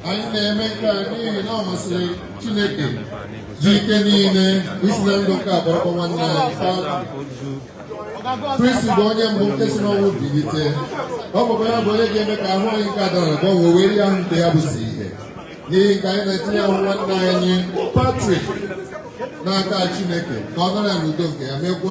anyị na-eme nke a n'ihi na ọ masịrị Chineke ji ike niile isi na ndụ nke a kpọrọkwa nwanne anyị Kristi bụ onye mbụ nke si n'ọnwụ bilite ọ bụkwa ya bụ onye ga-eme ka ahụ anyị nke a dị ala gbanwee wee yie ahụ nke ya bụ sọ ihe n'ihi nke a anyị na-etinye ahụ nwanne anyị Patrik n'aka Chineke ka ọ nara ya n'udo nke ya mekwuo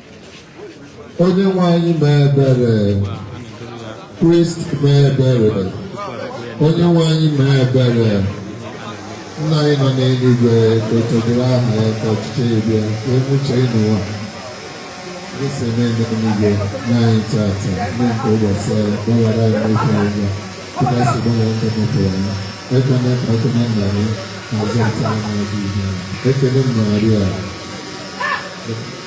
onye nwe anyị mee ebere Kristi mee ebere onye nwe anyị mee ebere nna anyị nọ n'eluigwe ka otito dịrị aha gị ka ọchịchị gị bịa ka e mee uche gị n'ụwa e si eme n'eluigwe nye anyị tata nri nke ụbọchị anyị gbaghara anyị mmehie anyị dịka anyị si gbaghara ndị mehiere anyị ekwena ka anyị kwenye na nranye ma zọpụta anyị n'ajọ ihe ekene Maria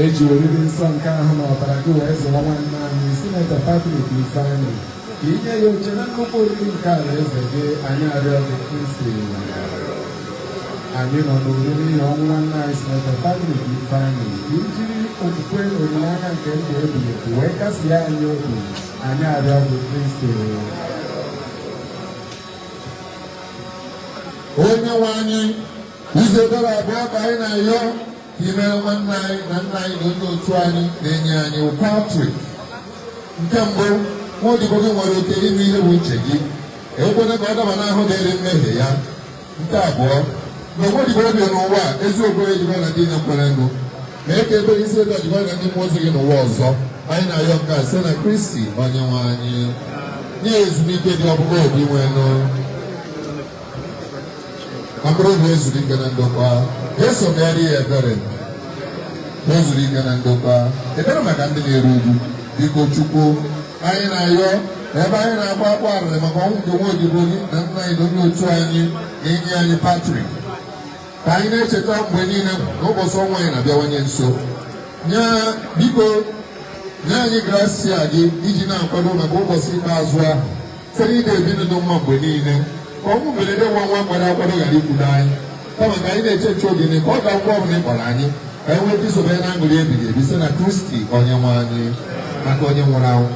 e ji oriri nsọ nke ahụ na ọbara gị wee zụọ nwanne anyị Senator Patrick Ifeanyi ka ị nye ya oche na nnukwu oriri nke alaeze gị anyị arịọ gị Kristi anyị nọ n'arịrị n'ihi ọnwụ nwanne anyị Senator Patrick Ifeanyi ka i jiri okwukwe na olileanya nke ndụ ebighị ebi wee kasie anyị obi anyị arịọ gị Kristi onye nwe anyị ụzọ ebere abụọ ka anyị na-ayọ I meere nwanne anyị na nna anyị na onye otu anyị na enyi anyị bụ Patrick. Nke mbụ, nwa odibo gị nwere oke ime ihe bụ uche gị. Ekwena ka ọ daba n'ahụhụ dịrị mmehie ya. Nke abụọ, mgbe nwa odibo gị bi n'ụwa a ezi okwukwe jikọrọ ya na ndị niile kwerenụ. Mee ka ebere gị si etu a jikọọ ya na ndị mmụọ ozi gị n'ụwa ọzọ. Anyị na-ayọ nke a site na Kristi onye nwe anyị. Nye ya ezumike dị ọkpụ O Dinwenụ. mkpụrụ obi ya zuru ike na ndokwa Jeso meere ya ebere ya zuru ike na ndokwa ekpere maka ndị na-eru uju biko chukwu anyị na-ayọ ebe anyị na-agba akwa arịrị maka ọnwụ nke nwa odibo gị na nna anyị na onye otu anyị na enyi anyị patrik ka anyị na-echeta mgbe niile na ụbọchị ọnwụ anyị na-abịawanye nso nye biko nye anyị grasia gị iji na-akwado maka ụbọchị ikpeazụ ahụ site n'ịdị ebi ndụ ọma mgbe niile ka ọnwụ mberede nwa nwa mmadụ akwado ghara ikwudo anyị kama ka anyị na-eche nche oge niile ka ọ ga-abụ mgbe ọbụla ị kpọrọ anyị ka anyị nwee ike isobe na aṅụrị ebighị ebi site na kristi onye nwe anyị maka onye nwụrụ anwụ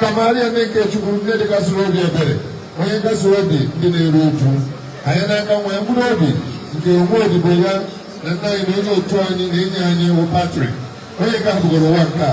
ka maria nne nke chukwu nne dịkasịrị obi ebere onye nkasi obi ndị na-eru uju ranye n'aka nwa ya mkpụrụ obi nke nwa odibo ya na nna anyị na onye otu anyị na enyi anyị wụ patrik onye hapụgoro ụwa nke a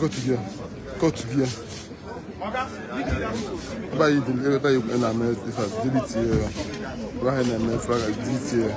Go to gear. Go to gear. Ebe anyị dị ebe anyị kwere na-eme ife a, dịrị tie ya. Ebe anyị na-eme ife a, dịrị tie ya.